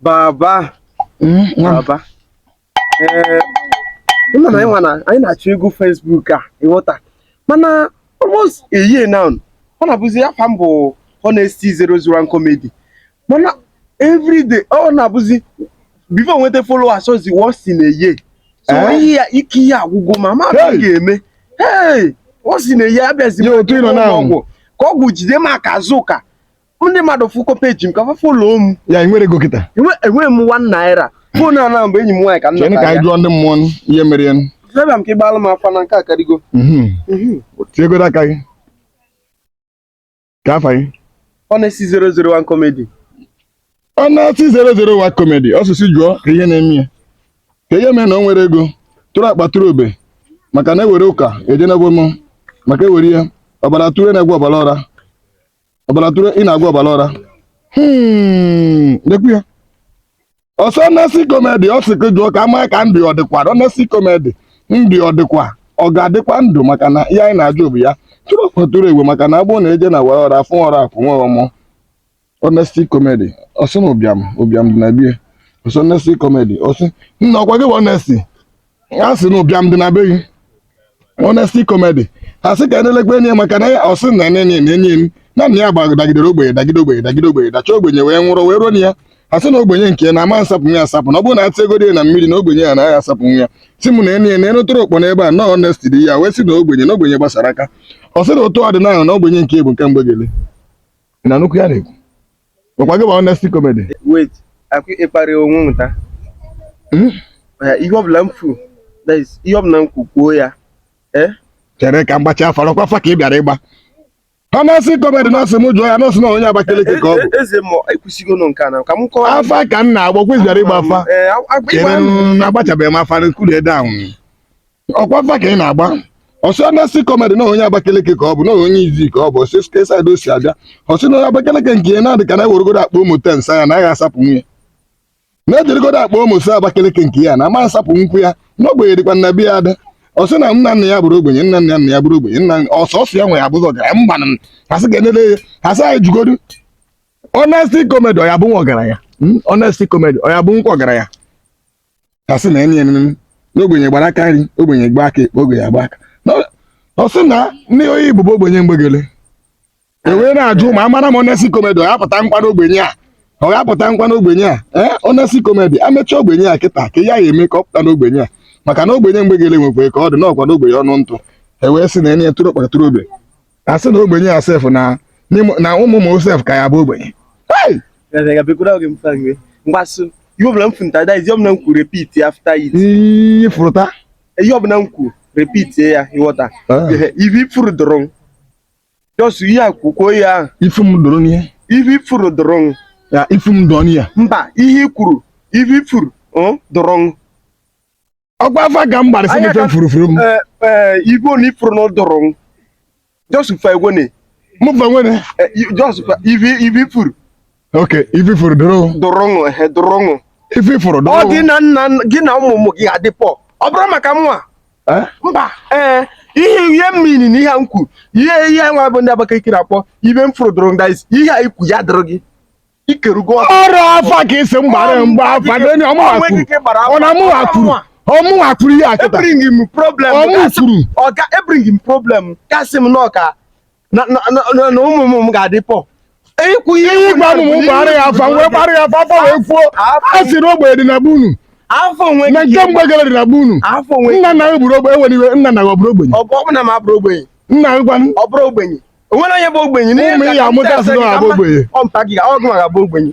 baba Mm, nwa m. baba ee ịma na anyị nwa na anyị na-achọ ego Facebook a ịghọta mana almost a year now ọ na-abụzi afa m bụ honesty zero zero one comedy mana everyday ọ na-abụzi before nweta followers ọzi once in a year so Eh? ihe a ike ihe agwụgo ma ma Hey! hey! ga-eme hey once in a year abịazi Ya otu ị nọ na- ọgwụ ka ọgwụ jide m aka azụ ka ndị mmadụ fụkọ page m ka fa follow m ya nwere ego kịta enweghị m one naira phone a na mgbe enyi m nwaanyị ka nna ka anyị jụọ ndị mmụọ ihe mere ya zebịa m ka ịgbalụ m afa na nke a karịgo mhm. mhm. tiegoro aka gị kaa afa gị honesty 001 comedy honesty 001 comedy ọsụsụ jụọ kee ihe na-eme ya kee ihe mee na o nwere ego tụrụ akpa tụrụ obe maka na ewere ụka ejenebo m maka ewere ihe ọbara tụrụ na-agwa ọbara ọra ọbara tụrụ ị na-agwa ọbara ọra Hmm, lekwu ya ọsọ honesty comedy ọ sị gị jụọ ka a ma ka ndụ ọ dịkwa honesty comedy ndụ ọ dịkwa ọ ga-adịkwa ndụ maka na ihe anyị na-ajụ bụ ya tụrụ akpa tụrụ egwe maka na agbụ na-eje na wara ọra fụ ọra afụ nwa ọmụ honesty comedy ọ sị na ụbịam ụbịam dị na bie ọsọ honesty comedy ọ sị na ọkwa gị bụ honesty a sị na ụbịam dị na be gị honesty comedy ha sị ka enelekwa enyi ya maka na ya ọ sị na enenye na enyi m na nna ya gbara dagidere ogbenye dagide ogbenye dagide ogbenye dacha ogbenye wee nwụrụ wee ruo na ya ha sị na ogbenye nke na ama nsapụ ya asapụ na ọ bụrụ na atị ego dị na mmiri na ogbenye ya anaghị asapụ ya si m na enyi ya na enụtụrụ okpo n'ebe a na honesty dị ya wee sị na ogbenye na ogbenye gbasara aka ọ sị na otu ọdịnala na ogbenye nke bụ nke mgbegele na nnukwu ya na-ekwu Ọkwa gị bụ honesty comedy. wait akụ ịkparị onwe nwụta Hmm? Eh, ihe ọbụla m fụ that is, ihe ọbụla m kwu kwuo ya eh Chere ka m gbachaa afa ọkwa afa ka ị bịara ịgba. Honesty comedy na ọ sị m jụọ ya na ọ sị na onye Abakaliki ka ọ bụ. E- eze ma ekwusigo nọ nke a na ka m kọwa Afa ka m na-agba kwa ị sị ị bịara ịgba afa. Eh, agba- Chere ịgba- m na agbachabeghị m afa nkuli ede ahụ. ọkwa afa ka ị na-agba ọ sị honesty comedy na onye Abakaliki ka ọ bụ na onye Izzi ka ọ bụ ọ sị site side o si abịa ọ sị na onye Abakaliki nke ya na-adị ka na eweregodo akpa Omo ten saa ya anaghị asapụ nwunye na ejirigodo akpa Omo saa Abakaliki nke ya na ama asapụ nkwụ ya na ogbenye dịkwa na be ya adị ọ sị na nna nna ya bụrụ ogbenye nna nna nna ya bụrụ ogbenye na ọ sọsọ ya nwa ya bụzi ọgaranya mba na asị ka enele ya asị anyị jụgodu honesty comedy ọ ya bụ nwa ọgaranya honesty comedy ọ ya bụ nkwa ọgaranya ha sị na enye enene na ogbenye gbara aka nri ogbenye gba aka ekpe ogbenye agba aka Na ọ- ọ sị na ndị oyi igbo bụ ogbenye mgbegele e wee na-ajụ ma amara m honesty comedy ọ ga-apụta nkwa n'ogbenye a ọ ga-apụta nkwa n'ogbenye a ee honesty comedy amecha ogbenye a kịta kee ihe a ga-eme ka ọ pụta n'ogbenye a maka na ogbenye mgbegele nwekwere ka ọ dị n'ọkwa n'ogbenye ọnụ ntụ e wee sị na enye tụrụ akpa tụrụ obe a sị na ogbenye ya sef na n'ịmụ- na ụmụ ụmụ sef ka ya bụ ogbenye Hey! mgbasụ ihe ọbụla m fụta that is ihe ọbụla m kwuru repeat ya after it iyi fụrụta ihe ọbụla m kwuru repeat ya ịghọta Ah. Ehe, ife ị fụrụ dụrụ m just ihe a kwukwuo ya ahụ ifu m doro n'ihe ife ị fụrụ dụrụ m ya ifu m dọọ n'ihe mba ihe i kwuru ife ị fụrụ ọ, dụrụ m ọkwa afa ka m gbara si mefe furufuru m eh, eh, ife na ị fụrụ na ụdụrụ m jọsụ fa egwe na mụ fa nwere jọsụ fa ivi ivi furu ok ivi furu dụrụ dụrụ ṅụ ehe dụrụ ṅụ ivi furu dụrụ ọ gị na nna gị na ụmụ ụmụ gị adị poor ọ bụrụ maka mụwa eh? mba ee ihe ihe mmiri na ihe m kwuru ihe ihe nwa bụ ndị Abakaliki na-akpọ ive m fụrụ dụrụ ndị ihe i kwu ya dụrụ gị ikerugo ọrụ afa ka ị sị m gbara mgbe afa n'enye ọmụ Ọ nweghị ike gbara akwuru afa. ọ na mụwa kwuru ọ mụwa kwuru ihe a kịta ebring m problem Ọ mụ gasị- kwuru. ọ ga ebring m problem kasị m nọ ka na na- na- na- na ụmụ ụmụ m ga-adị poor i kwu ihe ihe ị gwa m mụ gbara ya afa wee gbara ya afa afa wee kwuo a sị na ogbenye dị na be unu afọ onwe na nke mgbe gara dị na be unu afọ onwe nna nna gị bụrụ ogbenye enwere iwe nna nna gị ọ bụrụ ogbenye ọ bụ ọ bụ na m abụrụ ogbenye nna gị gwanụ ọ bụrụ ogbenye o nwere onye bụ ogbenye n'ime ụmụ ị ya-amụta a sị na ọ bụ ogbenye ọ mpa gị ọ gụnwa ga-abụ ogbenye